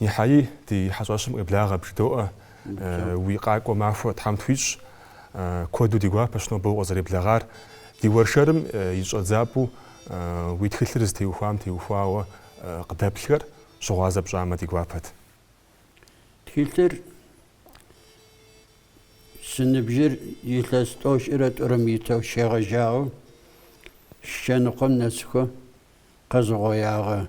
Нихьэи, ди хьэщӏэщым къеблагъэ, бжыдоӏэ, уи къакӏуэ махуэ Тхьэм тхуищӏ. Куэду ди гуапэщ нобэ укъызэреблагъар. Ди уэршэрым и щӏэдзапӏэу уи тхылъыр зытеухуам теухуауэ къыдэплъхэр щыгъуазэ пщӏамэ, ди гуапэт. Тхылъыр си ныбжьыр илъэс тӏощӏрэ тӏурэм итэу щегъэжьауэ щэныкъуэм нэсхуэ къэзыгъуеягъэ.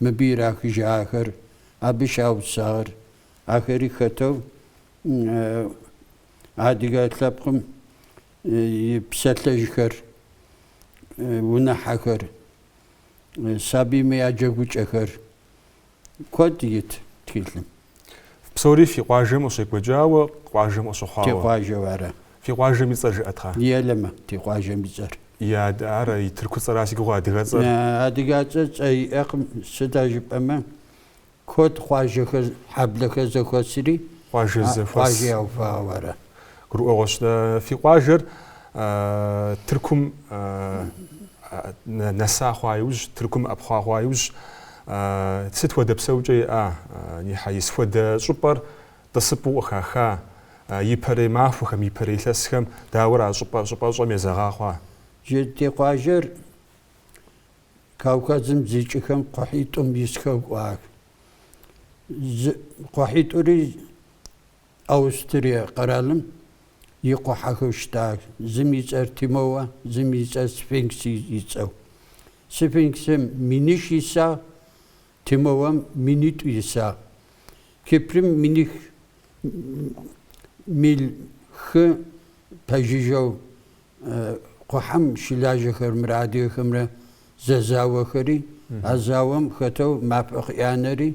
Мыбы ирахыжахэр, абы щаупсагъэр, ахэри хэтэу адыгэ лъэпкъым и псалъэжьхэр, унэхьэхэр, сабийм я джэгукӏэхэр куэд ит тхылъым. Псори фи къуажэм къыщекӏуэкӏауэ, къуажэм къыщыхъуауэ. Ти къуажэу ара. Фи къуажэм и цӏэр жыӏэт, кхъа. Елэмэ ти къуажэм и цӏэр. Ар и тырку цӏэра си гугъэ адыгэцӏэр? Адыгацӏэ цӏэ иӏэкъым, сыда жыпӏэмэ, куэд къуажэхэр, хьэблэхэр зэхуэсри, къуажэ зэхуэс. Къуажэ яухуауэ ара? Гурыӏуэгъуэщ. Фи къуажэр Тыркум нэса хъуа иужь, Тыркум ӏэпхъуа хъуа иужь, сыт хуэдэ псэукӏэ иӏа Нихьэи, сыт хуэдэ щӏыпӏэр тӏысыпӏэу къыхаха, ипэрей махуэхэм, ипэрей илъэсхэм дауэрэ а щӏыпӏэ щӏыпӏэщӏэм езэгъа хъуа? Ти къуажэр Кавказым зикӏыхэм кхъухьитӏум исхэу кӏуах. Кхъухьитӏури Аустрие къэралым и кхъухьэхэу щытах, зым и цӏэр Тимоуэ, зым и цӏэр Сфинкс и цӏэу. Сфинксым миныш исагъ, Тимоуэм минитӏу исагъ. Кипрым миних мил хы пэжыжьэу кхъухьэм щылажьэхэмрэ адыгэхэмрэ зэзауэхэри, а зауэм хэтэу мафӏэ къыӏанэри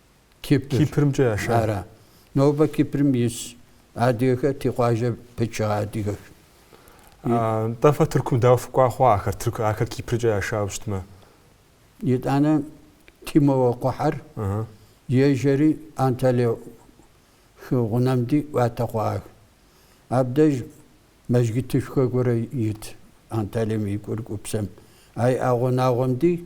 Кипр. Кипрымкӏэ яшар. Ара. Нобэ Кипрым ис адыгэхэр ти къуажэ пычыгъэ адыгэх. Нтӏэ фэ Тыркум дауэ фыкӏуа хъуа ахэр Тырк ахэр Кипрыкӏэ яшауэ щытмэ? Итӏанэ Тимоуэ кхъухьэр ежьэри Анталия хы гъунэмди ӏуатэ хъуах. Абдеж мэжгытышхуэ гуэрэ ит Анталием и курыкупсэм. Ай и гъунагъуэмди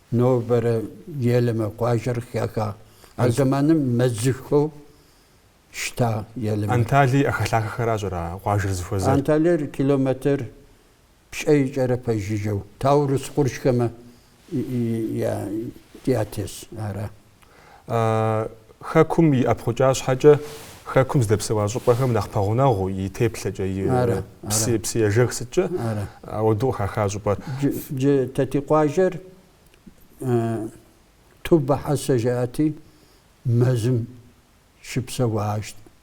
Нобэрэ Елэмэ къуажэр къыхахагъ, а зэманым мэзыхэу щыта Елэмэ. Анталий ӏэхэлъахэхэращ ара къуажэр зыхуэзэр? Анталиер километр пщӏейкӏэрэ пэжыжьэу Таурус къуршхэмэ ятес ара. Хэкум и ӏэпхъукӏа щхьэкӏэ Хэкум здэпсэуа щӏыпӏэхэм нэхъ пэгъунэгъуу и теплъэкӏэ, и псыежэх сыткӏэ ауэдэу къыхаха щӏыпӏэр. Джы Тэти къуажэр Тубэ хьэсэ жаӏэти, мэзым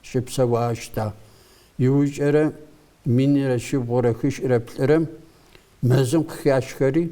щыпсэуащта. Иужькӏэрэ минрэ щибгъурэ хыщӏрэ плӏырэм мэзым къыхашхэри,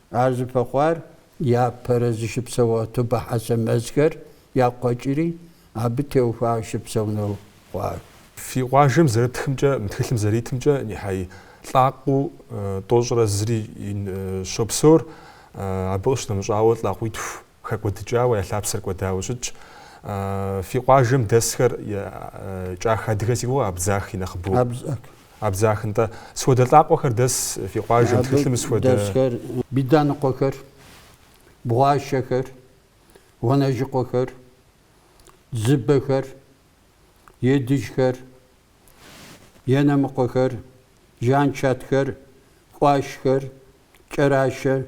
Ар зыпэхъуар япэрэ зыщыпсэуа Тубэ хьэсэ мэзхэр якъуэкӏри, абы теухуауэ щыпсэунэу хъуар. Фи къуажэм зэрытхымкӏэ, мы тхылъым зэритымкӏэ нихьэй лӏакъуэу тӏощӏрэ зыри щопсэур, абы къыщынэмыщӏауэ лӏакъуитху. Хэкӏуэдыкӏауэ, я лъапсэр кӏуэдауэ щытщ. Фи къуажэм дэсхэр кӏах адыгэ си гугъэ абдзах и нэхъыбэу. Абдзах. Абдзах, нтӏэ. Сыт хуэдэ лӏакъуэхэр дэс фи къуажэм тхылъым схуэдэ. Дэсхэр биданыкъуэхэр, бгъуащэхэр, гъуэнэжьыкъуэхэр, дзыбэхэр, едыджхэр, енэмыкъуэхэр, жанчатхэр, къуашхэр, кӏэращэ,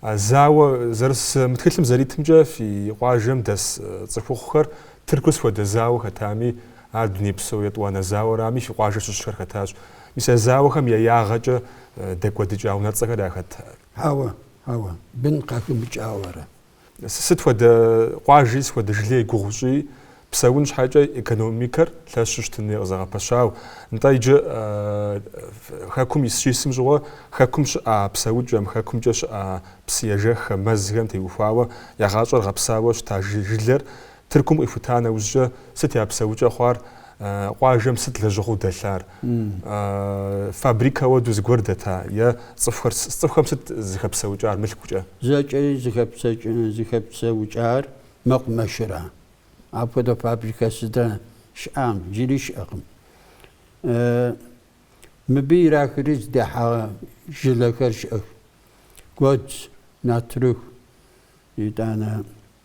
А зауэ зэрыс мы тхылъым зэритымкӏэ фи къуажэм дэс цӏыхухъухэр Тыркур сыт хуэдэ зауэ хэтами, ар дунейпсо етӏуанэ зауэрами, фи къуажэ щыщхэр хэтащ. Мис а зауэхэм я ягъэкӏэ дэкӏуэдыкӏа унэцӏэхэр яхэт. Ауэ, ауэ, бын къахымыкӏауэрэ? Сыт хуэдэ къуажи, сыт хуэдэ жылей гугъу щӏи, псэун щхьэкӏэ экономикэр лъэщу щытын хуей къызэгъэпэщауэ. Нтӏэ, иджы Хэкум ис щисым щыгъуэ Хэкум щыӏа псэукӏэм, Хэкумкӏэ щыӏа псыежэххэм, мэзхэм теухуауэ я гъащӏэр гъэпсауэ щыта жылэр Тыркум къихута нэужькӏэ сыт я псэукӏэ хъуар, къуажэм сыт лэжьыгъэу дэлъар, фабрикэ уэдэу зыгуэр дэта е цӏыхухэр, цӏыхухэм сыт зыхэпсэукӏар мылъкукӏэ? Зэкӏэри зыхэпсэукӏар мэкъумэшыра. Апхуэдэ фабрикэ сытхэ щыӏам. Джыри щыӏэкъым. Мыбы ирахри здахьа жылэхэр щыӏэх. Гуэдз, натрых, итӏанэ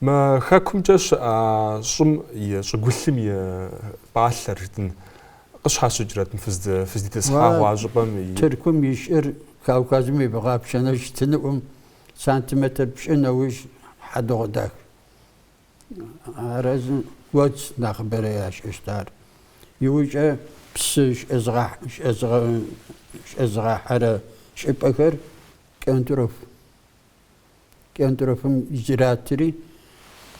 Мы хэкумкӏэ щыӏа щӏым и щӏыгулъым и пӏалъэр жытӏын къыщхьэщыкӏрэт мы фыздитӏысхьагъуа щӏыпӏэм и. Тыркум и щӏыр Кавказым и бгъэ пшэнэ щытыныӏум сантиметр пщӏы нэужь хьэдыгъу дах. Арэзы гуэдз нэхъыбэрэ ящӏыщт ар. Иужькӏэ псы щӏэзыгъэхьэрэ щӏыпӏэхэр кӏэнтӏрух. Кӏэнтӏрофым иратри,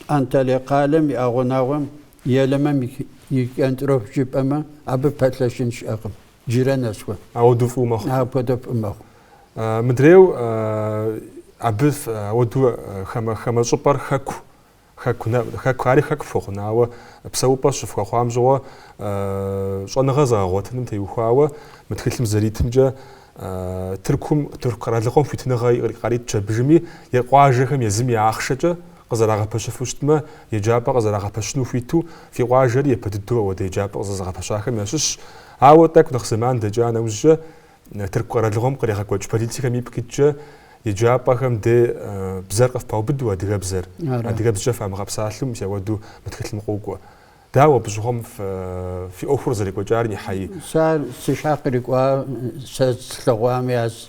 Анталия къалэм и ӏэгъунагъуэм Елэмэм и кӏэнтӏроф жыпӏэмэ, абы пэлъэщын щыӏэкъым. Джырэ нэсхуэ. Ауэду фӏыу мэхъу. Апхуэдэ фӏы мэхъу. Мыдрейу абы ауэду хамэ щӏыпӏэр хэку Хэку нэ, хэку ари хэку фхуэхъун, ауэ псэупӏэ щыфхуэхъуам щыгъуэ щӏэныгъэ зэгъэгъуэтыным теухуауэ мы тхылъым зэритымкӏэ Тыркум, Тырку къэралыгъуэм хуитыныгъэ къарит пщэбжыми е къуажэхэм езым я ахъшэкӏэ къызэрагъэпэщыфу щытмэ, еджапӏэ къызэрагъэпэщыну хуиту фи къуажэри япэ дыдэу ауэдэ еджапӏэ къызэзыгъэпэщахэм ящыщщ. Ауэ тӏэкӏу нэхъ зэман дэкӏа нэужькӏэ Тырку къэралыгъуэм къригъэкӏуэкӏ политикэм ипкъ иткӏэ еджапӏэхэм де бзэр къыфпаубыду адыгэбзэр, адыгэбзкӏэ фамыгъэпсалъу мис ауэду мы тхылъым къокӏуэ. Дауэ абы щыгъуэм фи ӏуэхур зэрекӏуэкӏар Нихьаи? Сэ ар си щхьэ кърикӏуа, сэ слъэгъуам яз.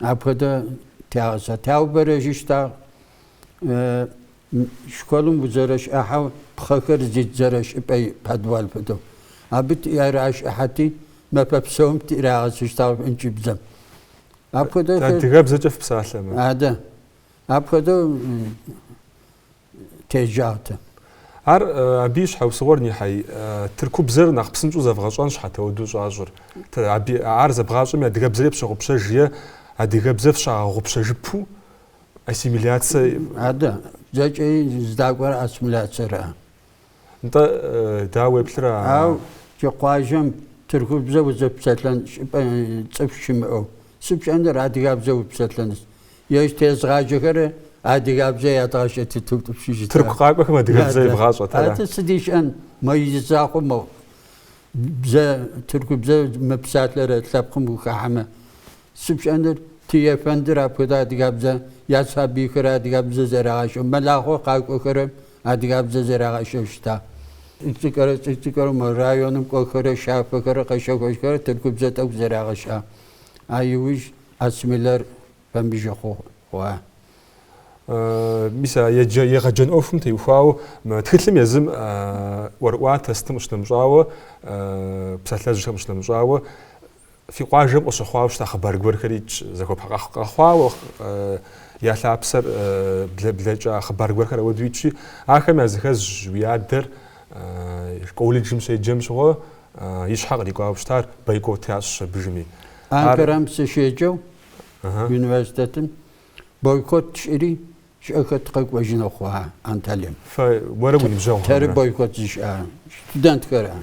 Апхуэдэ тягъэсэ, таубэрэжьыщтагъ. Школым узэрэщӏыхьэу пхъэхэр зидзэрэ щӏыпӏэ подвал хуэдэу. Абы тиращӏыхьэти, мэфэ псом тирагъэсыщтагъ ӏункӏыбзэм. Апхуэдэ. Адыгэбзэкӏэ фпсалъэмэ. Адэ. Апхуэдэу. теджагъ тэ. Ар абы и щхьэусыгъуэр Нихьаи. Тыркубзэр нэхъ псынщӏэу зэвгъэщӏэн щхьэт ауэдэу щӏащӏыр. Ар зэбгъащӏэми адыгэбзэри пщыгъупщэж е адыгэбзэ фщагъэгъупщэжыпу ассимиляцэ. Адэ, зэкӏэ здакӏуэр ассимиляцэра? Нтӏэ, дауэ уеплъыра? Ау, джы къуажэм тыркубзэ узэпсэлъэн цӏыху щымыӏэу, сыт пщӏэныр адыгабзэ упсэлъэныс? Ежь тезыгъаджэхэрэ адыгабзэ ядгъэщӏэтыту тӏупщыжыта? Тырку къакӏуэхэм адыгабзэ ебгъащӏэт ара? Атӏэ сыт ищӏэн, мо и закъуэ мэхъу. Бзэ, тыркубзэ мыпсалъэрэ лъэпкъым ухахьэмэ. Сыт пщӏэныр ти ефэндыр апхуэдэ адыгабзэ я сабийхэр адыгабзэ зэрагъэщӏэу, мэлахъуэ къакӏуэхэрэ адыгабзэ зэрагъэщӏэу щыта. Цӏыкӏурэ цӏыкӏурэ районым кӏуэхэрэ щафэхэрэ къэщэхужхэрэ тыркубзэ тӏэкӏу зэрагъэщӏа. А иужь ассмилэр фэмыжу хъуа. Мис а егъэджэн ӏуэхум теухуауэ мы тхылъым езым ӏуэрыӏуатэ сытым къыщынэмыщӏауэ, псалъэжьхэм къыщынэмыщӏауэ, Фи къуажэм къыщыхъуауэ щыта хъыбар гуэрхэр итщ, зэхуэпа къэхъуауэ я лъапсэр блэкӏа хъыбар гуэрхэр ауэдэу итщи, ахэм я зыхэзщ уи адэр колледжым щеджэм щыгъуэ и щхьэ кърикӏуауэ щытар, бойкот ящӏщ абыжми. Анкарэм сыщеджэу университетым бойкот тщӏыри щӏэх тыкъэкӏуэжыну хъуа Анталием? Фэ уэрэ уи ныбжьэгъухэмрэ? Тэры бойкот зыщӏа студентхэр ара?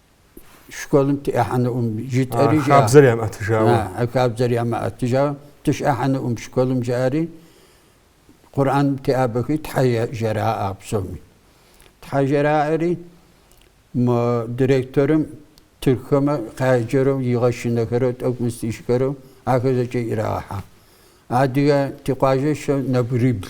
школым тыӏыхьэнуӏым жытӏэри жаӏэ. Хабзэр ямыӏэтыжауэ. А хабзэр ямыӏэтыжауэ тыщӏыхьэнуӏым школым жаӏэри, Къурӏэн теӏабэхи Тхьэ жраӏэ псоми. Тхьэ жраӏэри мы директорым тыхэмэ къяджэрэу игъэшынэхэрэу тӏэкӏу мыстищхэрэу ахэр зэкӏэ ирагъэхьэ. Адыгэ ти къуажэщэу нэбгырибл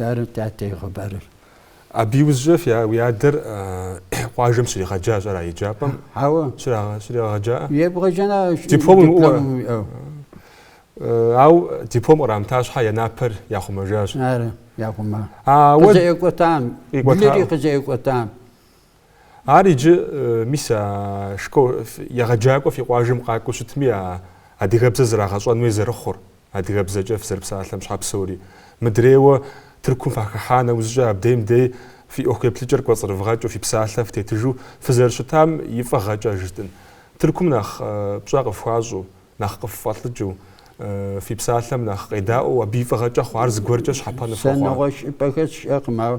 Ары тятэ и хъыбарыр. Абы иужькӏэ фи уи адэр къуажэм щригъэджащ ара еджапӏэм? Хьэуэ. Щригъэгъэджаӏэ? Ебгъэджэна диплом уимыӏэу ара? уиӏэу. Ау диплом кърамыта щхьэ я напэр яхъумэжащ. Ары, яхъума. Ауэ къызэӏекӏуэтам, блыри къызэӏекӏуэтам. Ар иджы, мис, а школ егъэджакӏуэ фи къуажэм къакӏуэу щытми, а адыгэбзэр зрагъэщӏэн хуей зэрыхъур, адыгэбзэкӏэ фызэрыпсалъэм щхьэ псори. Мыдрейуэ Тыркум фахыхьа нэужькӏэ абдейм дей фи ӏуэху еплъыкӏэр кӏуэцӏрывгъэкӏыу фи псалъэ фытетыжу фызэрыщытам и фӏыгъэкӏэ жытӏэн, тыркум нэхъ пщӏэ къыфхуащӏу, нэхъ къыффӏэлӏыкӏыу, фи псалъэм нэхъ къедаӏуэу абы и фӏыгъэкӏэ хъуар зыгуэркӏэ щхьэпэну фхуэхъуа? Сэ нэгъуэщӏ щӏыпӏэхэр сщӏэкъым, ауэ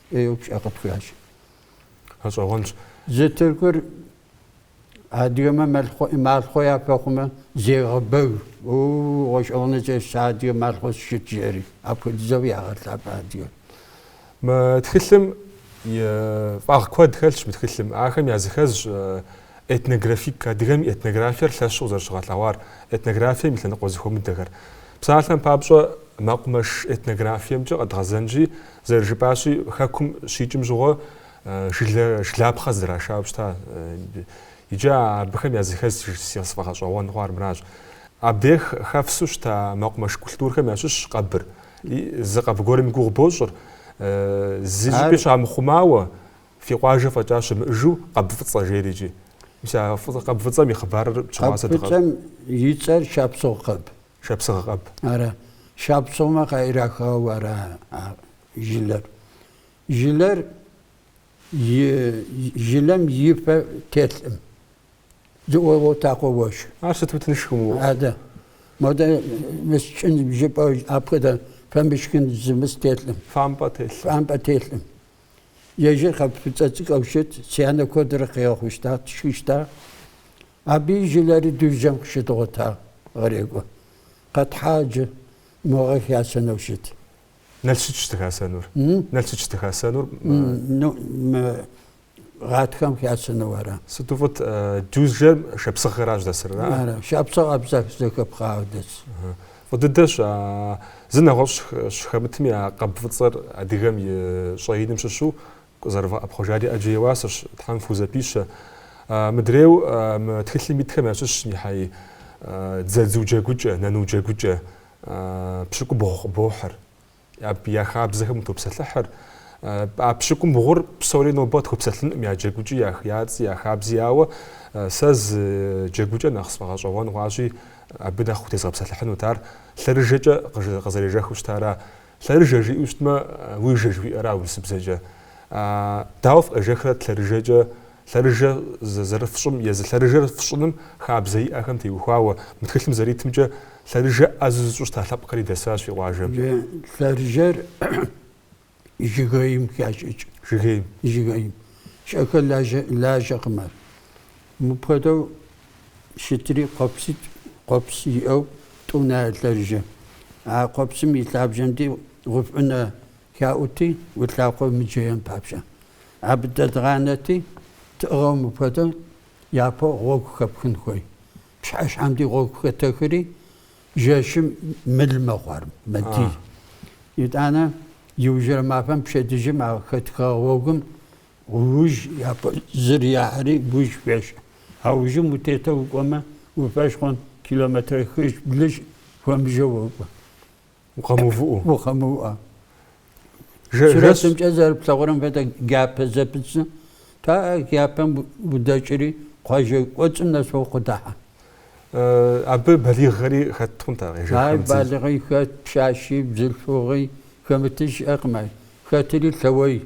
ӏейуэ пщӏэ къытхуящӏ. Гъэщӏэгъуэнщ. Зы тыркур адыгэмэ малъхъуэ, малъхъуэ япэхъумэ, зегъэбэг. Оо, гъэщӏэгъуэныщӏэщ, сэ адыгэ малъхъуэ сыщыт, жери. Апхуэдизэу ягъэлъапӏэ адыгэр. Мы тхылъым и фӏагъ куэд хэлъщ мы тхылъым. Ахэм языхэзщ этнографик, адыгэм и этнографиер лъэщу къызэрыщыгъэлъэгъуар, этнографием и лъэныкъуэ зэхуэмыдэхэр. Псалъэм папщӏэ, мэкъумэш этнографиемкӏэ къэдгъэзэнщи, Зэрыжыпӏащи, хэкум щикӏым щыгъуэ жылэ жылапхъэ здрашауэ щыта. Иджы абыхэм языхэз сэ сфӏэгъэщӏэгъуэн хъуар мыращ. Абдей хэфсу щыта мэкъумэш культурхэм ящыщщ къэбыр. Зы къэб гуэрым и гугъу бощӏыр. Зы щӏыпӏи щамыхъумауэ, фи къуажэ фӏэкӏа щымыӏэжу къэб фӏыцӏэ жери иджи. Мис а къэб фӏыцӏэм и хъыбарыр пщыхъуа сэ дыкъэщӏ. Къэб фӏыцӏэм и цӏэр шапсыгъ къэб. шапсыгъэ къэб. Ара, шапсыгъмэ къаирахауэ ара а жылэр. Жылэр и жылэм и фэ телъӏым. Зыӏуегъэтакъуэ уэшх. Ар сыту тыншкъым уэ. Адэ. Модэ мыскӏын жыпӏэ апхуэдэ фэ мышхын зымыс телъӏым. Фампӏэ телъӏым. Фампӏэ телъӏым. Ежыр къэб фӏыцӏэ цӏыкӏуэу щыт, си анэ куэдрэ къигъэхъущта, тшхыщта. Абы и жылэри Дюзжэм къыщыдгъуэта гърекӏуэ. Къэтхьа иджы, мы гъэ хасэнэу щыт. Нэл сытщ дыхасэнур? Нэл сытщ дыхасэнур? Мы гъатхэм хасэну ара? Сыту фӏыт, Дюзжэм шапсыгъхэращ дэсыр, ара? Ара, шапсыгъ абзэх зэхэпхъауэ дэс. Фӏы дыдэщ, а зы нэгъуэщӏ щыхэмытми а къэб фӏыцӏэр адыгэм и щӏэиным щыщу Къызэрывгъэӏэпхъуэжари ӏэджэ и уасэщ, Тхьэм фхузэпищэ. Мыдрейу мы тхылъым итхэм ящыщщ нихьэи, дзэдзу джэгукӏэ, нэну джэгукӏэ, пщыкӏубгъу къыбохьыр, абы я хабзэхэм утопсэлъыхьыр. А пщыкӏубгъур псори нобэ къытхуэпсэлъынукъым, я джэгукӏи, я цӏи, я хабзи, ауэ сэ зы джэгукӏэ нэхъ сфӏэгъэщӏэгъуэн хъуащи, абы нэхъ утезгъэпсэлъыхьынут. Ар лъэрыжэкӏэ къызэрежэхыу щытара Лъэрыжэ жиӏэу щытмэ, лыжэ жыхуиӏэра урысыбзэкӏэ? Дауэ фыкъежэхрэт лъэрыжэкӏэ? Лъэрыжэ зэрыфщӏым езы лъэрыжэр фщӏыным хабзэ иӏэхэм теухуауэ, мы тхылъым зэритымкӏэ, лъэрыжэ ӏэзэу зыщӏу щыта лъэпкъри дэсащ фи къуажэм. Лъэрыжэр жыгейм хащӏыкӏ. Жыгейм. Жыгейм. Щӏэх лажьэ, лажьэкъым ар. Мыпхуэдэу. щытри къуэпситӏ, къуэпс иӏэу тӏу нэ я лъэрыжэ. А къуэпсым и лъабжьэмкӏи гъуфӏ ӏунэ хаӏути, уи лъакъуэ мыджеям папщӏэ. Абы дэдгъанэти, тӏыгъыу мыпхуэдэу япэу гъуэгу хэпхын хуей. Пщыхьэщхьэм ди гъуэгу хэтэхри жэщым мыл мэхъу ар, мэдий. Итӏанэ иужьрэ мафэм пщэдджыжьым а хэтха гъуэгум Ужь япэ зыр ехри ужь хуещӏ. А ужьым утету укӏуэмэ, уи фӏэщ хъун километрэ хыщӏ, блыщӏ хуэмыжэ уокӏуэ. Укъэмыувыӏэу. Укъэмыувыӏэу. Сурэтымкӏэ зэрыплъэгъурэм хуэдэ джабэ зэпыту, пыӏэ джабэм удэкӏри, къуажэ кӏуэцӏым нэс уэ укъыдэхьэ. Абы балигъхэри хэт хъунт ар къежэххэм. Ар балигъи хэт, пщащи, бзылъхугъи хэмытыр щыӏэкъым ар. Хэтри лъэуей.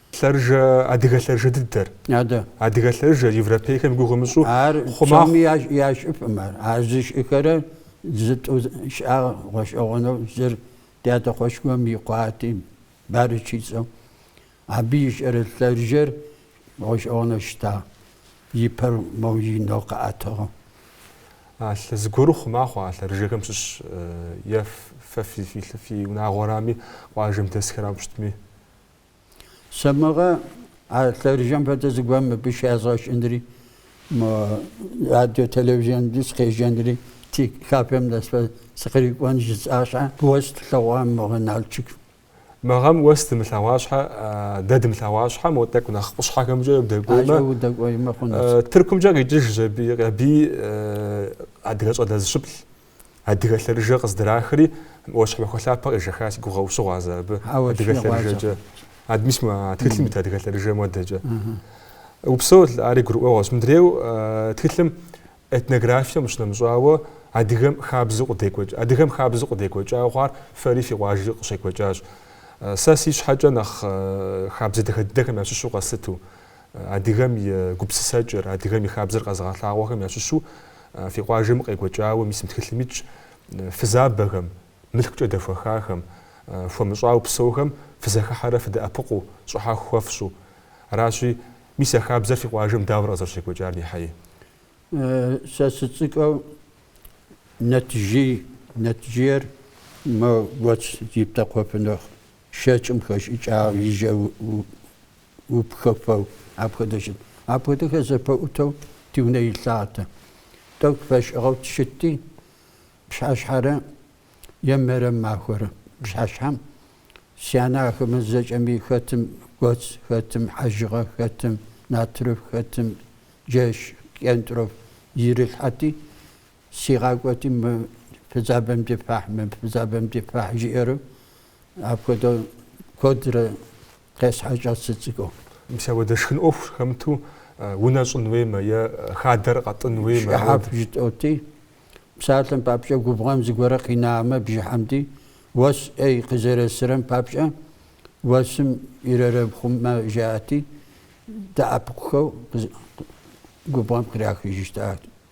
Лъэрыжэ, адыгэ лъэрыжэ дыдэр. Адэ. Адыгэ лъэрыжэр, европейхэм я гугъу умыщӏу, Ар хъума- псоми ящ- ящӏыфкъым ар. Ар зыщӏыхэр зытӏу щыӏа гъэщӏэгъуэну зыр ди адэкъуэшхуэм и къуати, Барыч и цӏэу. Абы ищӏырэ лъэрыжэр гъэщӏэгъуэну щыта, и пэр моужьынэу къэӏэтыгъэу. А лъэ зыгуэру хъума хъуа а лъэрыжэхэм щыщ е ф- фэ фи, фи, лъы- фи унагъуэрами, къуажэм дэсхэрам щытми? Сэ мыгъэ а лъэрыжэм фэдэ зыгуэр мыбы щязгъэщӏынри, мо радио телевизион деж сыкъежьэнри, ти кафем нэс сыкърикӏуэн жысӏа щхьэ, уэс тлъэгъуа мыгъэ Налчик? Мы гъэм уэс дымылъэгъуа щхьэ, дэ дымылъэгъуа щхьэ, мо тӏэкӏу нэхъ къущхьэхэмкӏэ удэкӏуеймэ. Ажэ удэкӏуеймэ хъунущ. Тыркумкӏэ къикӏыж Жэбий, Къябий, адыгэ щӏалэ зыщыплӏ. Адыгэ лъэрыжэ къыздрахри, Ӏуащхьэмахуэ лъапэ къежэха, си гугъэ ущыгъуазэ абы, адыгэ лъэрыжэкӏэ. Адэ мис мы тхылъым ит адыгэ лъэрыжэ модэкӏэ. Упсэу ари гурыӏуэгъуэщ. Мыдрейу тхылъым этнографием къыщынэмыщӏауэ адыгэм хабзэу къыдекӏуэкӏ, адыгэм хабзэу къыдекӏуэкӏауэ хъуар фэри фи къуажэкӏэ къыщекӏуэкӏащ. Сэ си щхьэкӏэ нэхъ хабзэ дахэ дыдэхэм ящыщу къэслъыту. адыгэм и гупсысэкӏэр, адыгэм и хабзэр къэзыгъэлъагъуэхэм ящыщу фи къуажэм къекӏуэкӏауэ мис мы тхылъым итщ фызабэхэм, мылъкукӏэ дэхуэхахэм, хуэмыщӏауэ псэухэм фызэхыхьэрэ фыдэӏэпыкъуу, щӏыхьэху хуэфщӏу. Аращи, мис а хабзэр фи къуажэм дауэрэ къызэрыщекӏуэкӏар Нихьэи? Сэ сыцӏыкӏэу нэтжей, нэтжейр мо гуэдз зиптэкъуэфыныр шэкӏым хэшӏыкӏагъ, и жьэ упхэфэу, апхуэдэ щыт. Апхуэдэхэр зэпытэу ди унэ илъагъэтэ. Тӏэкӏу фэшӏыгъэу тщытти, пщыхьэщхьэрэ е мэрем махуэрэ пщыхьэщхьэм си анэ ахэмэ зэкӏэми хэтым гуэдз, хэтым хьэжыгъэ, хэтым натрыф, хэтым джэш, кӏентӏроф ирилъхьэти, Сигъакӏуэти мы фызабэм ди фэхь, мы фызабэм ди фэхь жиӏэру апхуэдэу куэдрэ къесхьэкӏащ сыцӏыкӏуу. Мис ауэдэ шхын ӏуэху хэмыту унэ щӏын уеймэ е хадэр къэтӏын уеймэ. Шӏыхьаф жытӏоти, псалъэм папщӏэ губгъуэм зыгуэрэ къинамэ бжыхьэм ди, уэс ӏей къызэресырэм папщӏэ уэсым ирэрепхъумэ жаӏэти, дэӏэпыкъухэу губгъуэм кърахыжыщтат.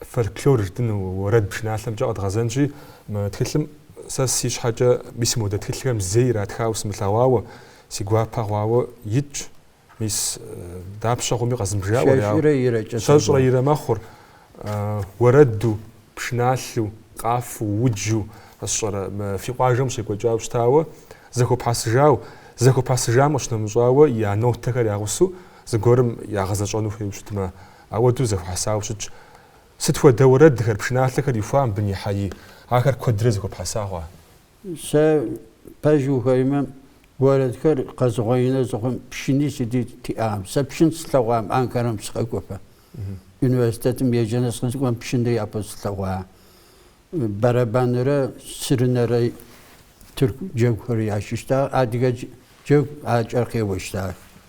Фольклор жытӏэн уэрэд пшыналъэмкӏэ къэдгъэзэнщи, мы тхылъым сэ си щхьэкӏэ мис модэ тхылъхэм зэи иратхауэ сымылъэгъуауэ, си гуапэ хъуауэ итщ. Мис дапщэ хъуми къэзымыбжауэ, щэщӏрэ ирэ мэхъур, уэрэду, пшыналъэу, къафэу, уджу, сщӏэрэ, мы фи къуажэм къыщекӏуэкӏауэ щытауэ, зэхуэпхьэсыжау, зэхуэпхьэсыжам къыщынэмыщӏауэ я нотэхэр ягъусэу зыгуэрым ягъэзэщӏэну хуейуэ щытмэ, Ауэдэу зэхуэхьэсауэ щытщ. Сыт хуэдэ уэрэдхэр, пшыналъэхэр ихуа мыбы, Нихьэи, ахэр куэдрэ зэхуэпхьэса хъуа? Сэ пэжу ухуеймэ, уэрэдхэр къэзугъуеинэу зыхъум, пшыни сыти тиӏакъым. Сэ пшынэ слъэгъуам, Анкарэм сыкъэкӏуэфэ. Университетым еджэну сыкъызыкӏуэм, пшынэри япэу слъэгъуа. Бэрэбанрэ сырынэрэ тырку джэгухэр ящӏыщтагъ. Адыгэ джэгуакӏэр къеуэщтагъ.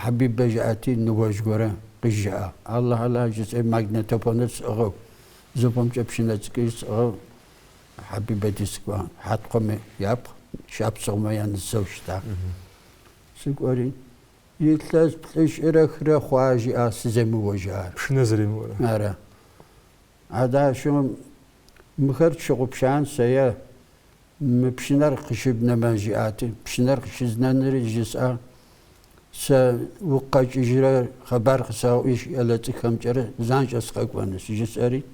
Хьэбибэ жаӏати, ныуэжь горэ къыжаӏэ, Аллахь, Аллахь жысӏэри магнитофоныр сӏыгъыу, зы пэмкӏэ пшынэ цӏыкӏури сӏыгъыу Хьэбибэ ди скӏуа Хьэткъуэмэ япхъу, шапсыгъумэ я нысэу щыта. Сыкӏуэри, илъэс плӏыщӏрэ хырэ хъуа жиӏа сыземыуэжар? Пшынэ зэремыуэрэ? Ара. Адашэм мыхэр тщыгъупшан сэ е? Мы пшынэр къыщыбнэмэ, жиӏат. Пшынэр къыщызнэныр жысӏа. Сэ угу къэкӏыжрэ хъыбар къысэгъэӏуи ӏелэцӏыкӏухэмкӏэрэ занщӏэ сыкъэкӏуэнущ, жысӏэри.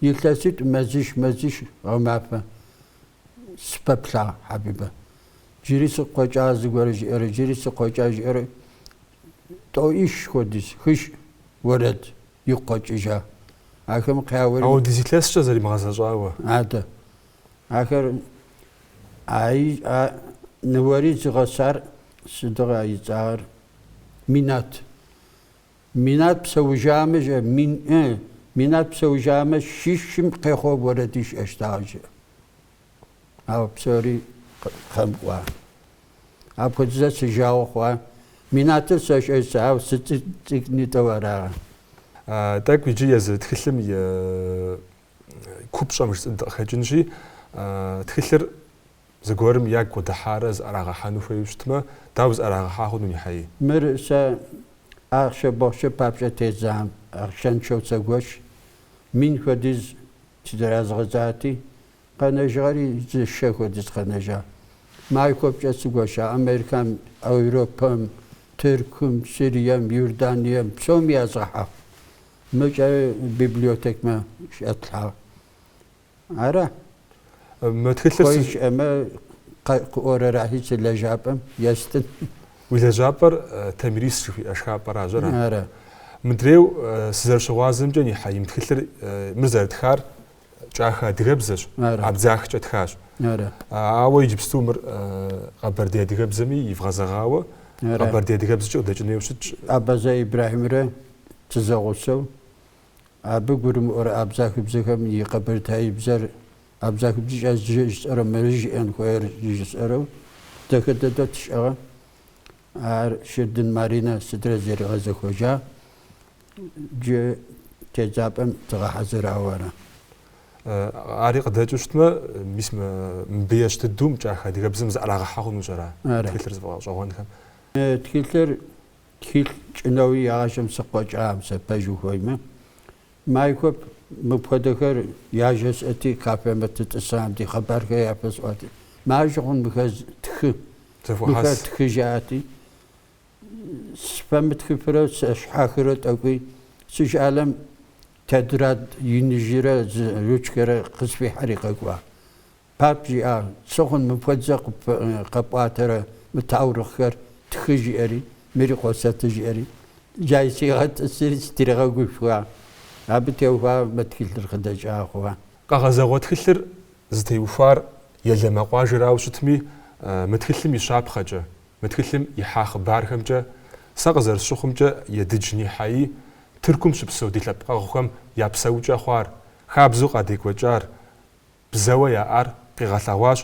Илъэситӏ мэзищ, мэзищ, гъэмафэ. Сыпэплъагъ Хьэбибэ. Джыри сыгу къэкӏа зыгуэр жиӏэрэ, джыри сыгу къэкӏа жиӏэрэ тӏоӏищ хуэдиз, хыщӏ уэрэд игу къэкӏыжа. Ахэм къяуэри. Ауэ дызилъэскӏэ зэримыгъэзэщӏауэ. Адэ. Ахэр аи а ныуэри зыгъэсар сыдыгъэ а ицӏагъэр? Минат. Минат псэужамэ жэ, мин ы, Минат псэужамэ щищым къехъуу уэрэд ищӏэщтыгъэ жэ. Ауэ псори кхъэм кӏуа. Апхуэдизэ си жагъуэ хъуа. Минатыр сэщӏэ сэ, ауэ сыцӏы- цӏыкӏунитӏэу арагъэ. Тӏэкӏу иджы езы тхылъым и купщӏэм жысӏэн дыкъыхэкӏынщи, тхылъыр зыгуэрым ягу къыдыхьарэ зыӏэрагъэхьэну хуейуэ щытмэ, дауэ зыӏэрагъэхьа хъуну, Нихьаи? Мыр сэ ахъшэ-бохъшэ папщӏэ тедзам, ахъшэншэу сэгуэш, мин хуэдиз тыразгъэдзати, къэнэжыгъэри зы шэ хуэдиз къэнэжа. Майкъуэпкӏэ сыгуэша Америкэм, Европэм, Тыркум, Сырием, Иорданием, псоми язгъэхьагъ. Мыкӏэ библиотекмэ щӏэтлъхьагъ. Ара? Мы тхылъыр хуей щы- щыӏэмэ къэ- къыӏуэрэрахи си лэжьапӏэм естын. Уи лэжьапӏэр э, Тамирис жыхуиӏэ шхапӏэращ, ара? Ара. Мыдрейу э, сызэрыщыгъуазэмкӏэ, Нихьаи, мы тхылъыр э, мыр зэрытхар кӏахэ адыгэбзэщ, абдзахкӏэ тхащ. Ауэ иджыпсту мыр къэбэрдей адыгэбзэми ивгъэзэгъауэ къэбэрдей адыгэбзэкӏэ къыдэкӏын хуейуэ щытщ. Абазэ Ибрахьимрэ тызэгъусэу абы гурымыӏуэрэ абзахыбзэхэм и къэбэртаибзэр абзахыбзэкӏэ жысӏэрэ мыры жиӏэн хуейр жысӏэрэу дэхэ дэдэу тщӏыгъэ. Ар Шырдын Маринэ сыдрэ зэригъэзэхуэжа Джы тедзапӏэм тыгъэхьэзырауэ ара? Ари къыдэкӏыу щытмэ, мис мыбы ещхь дыдэу мы кӏахэ адыгэбзэм зыӏэрагъэхьэ хъунущ ара тхылъыр зыфӏэгъэщӏэгъуэнхэм? Тхылъыр тхылъ сщӏынэуи егъащӏэм сыгу къэкӏам сэ пэж ухуеймэ. Майкъуэп мыпхуэдэхэр яжесӏэти, кафемэ тытӏысам ди хъыбархэр яфэсӏуати, маржэ хъун мыхэр тхы. Мыхэр тхы жаӏати, сфэмытхыфрэ сыщхьэхырэ тӏэкӏуи, си щӏалэм тетрад иныжьрэ зы ручкэрэ къысфихьэри къэкӏуа. Пап жиӏа, сэ хъун мыпхуэдзэ къэпӏуатэрэ мы таурыхъхэр тхы жиӏэри, мыри къосэты жиӏэри, джай сигъэтӏысри стригъэгушхуа. Абы теухуа мы тхылъыр къыдэкӏа хъуа. Къэгъэзэгъуэ тхылъыр зытеухуар Елэмэ къуажэрауэ щытми, мы тхылъым и щапхъэкӏэ, Мы тхылъым ихьа хъыбархэмкӏэ сэ къызэрысщыхъумкӏэ Едыдж Нихьаи Тыркум щыпсэу ди лъэпкъэгъухэм я псэукӏэ хъуар, хабзэу къадекӏуэкӏар, бзэуэ яӏар къигъэлъэгъуащ,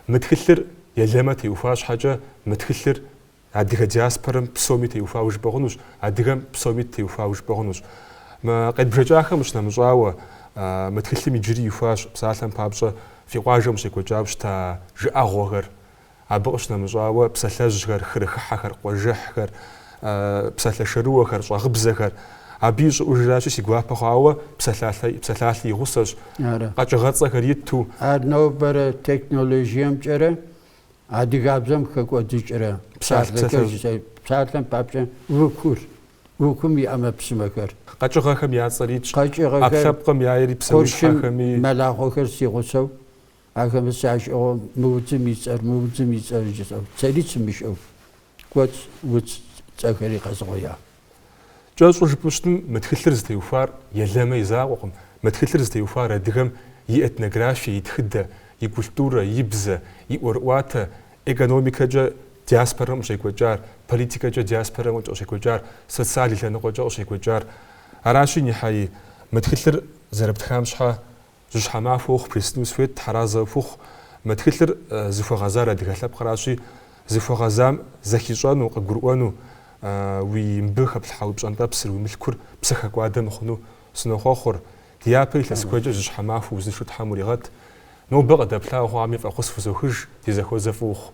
мы тхылъыр Елэмэ теухуа щхьэкӏэ мы тхылъыр адыгэ диаспорэм псоми теухуауэ жыпӏэ хъунущ, адыгэм псоми теухуауэ жыпӏэ хъунущ. Къедбжэкӏахэм къыщынэмыщӏауэ, мы тхылъым иджыри ихуащ псалъэм папщӏэ фи къуажэм къыщекӏуэкӏауэ щыта жыӏэгъуэхэр, Абы къыщынэмыщӏауэ, псалъэжьхэр, хырыхыхьэхэр, къуажэхьхэр, псалъэ шэрыуэхэр, щӏэгъыбзэхэр, абы и щӏыӏужращи, си гуапэ хъуауэ псалъалъэ и гъусэщ, къэкӏыгъэцӏэхэр иту. Ар нобэрэ технологиемкӏэрэ адыгабзэм хэкӏуэдыкӏрэ псалъэм папщӏэ выгур, выгум и ӏэмэпсымэхэр. Къэкӏыгъэхэм я цӏэр итщ, ӏэпкълъэпкъым яйри псэущхьэхэми. Къуршым мэлахъуэхэр си гъусэу Ахэмэ сящӏыгъуэ мы удзым и цӏэр, мы удзым и цӏэр жысӏэу, цӏэри сымыщӏэу, куэд удз цӏэхэри къэзугъуея. Кӏэщӏу жыпӏэу щытым, мы тхылъыр зытеухуар Елэмэ и закъуэкъым, мы тхылъыр зытеухуар адыгэм и этнографие, и тхыдэ, и культурэ, и бзэ, и ӏуэрыӏуатэ, экономикэкӏэ диаспорэм къыщекӏуэкӏар, политикэкӏэ диаспорэм къыщекӏуэкӏар, социаль лъэныкъуэкӏэ къыщекӏуэкӏар. Аращи, Нихьаи, мы тхылъыр зэрыптхам щхьэ, Жьыщхьэ махуэ ухъу бжесӏэну схуейт, тхьэразэ ухухъу. Мы тхылъыр зыхуэгъэзар адыгэ лъэпкъращи, зыхуэгъэзам зэхищӏэну, къыгурыӏуэну, уэ мыбы хэплъхьа уи пщӏэнтӏэпсыр, уи мылъкур псыхэкӏуадэ мыхъуну сынохъуэхъур. Дяпэ илъэс куэдкӏэ жьыщхьэ махуэ узыншэу Тхьэм уригъэт. Нобэ къыдэплъауэ хъуами фӏэхъус фызохыж, ди зэхуэзэ фӏы ухъу.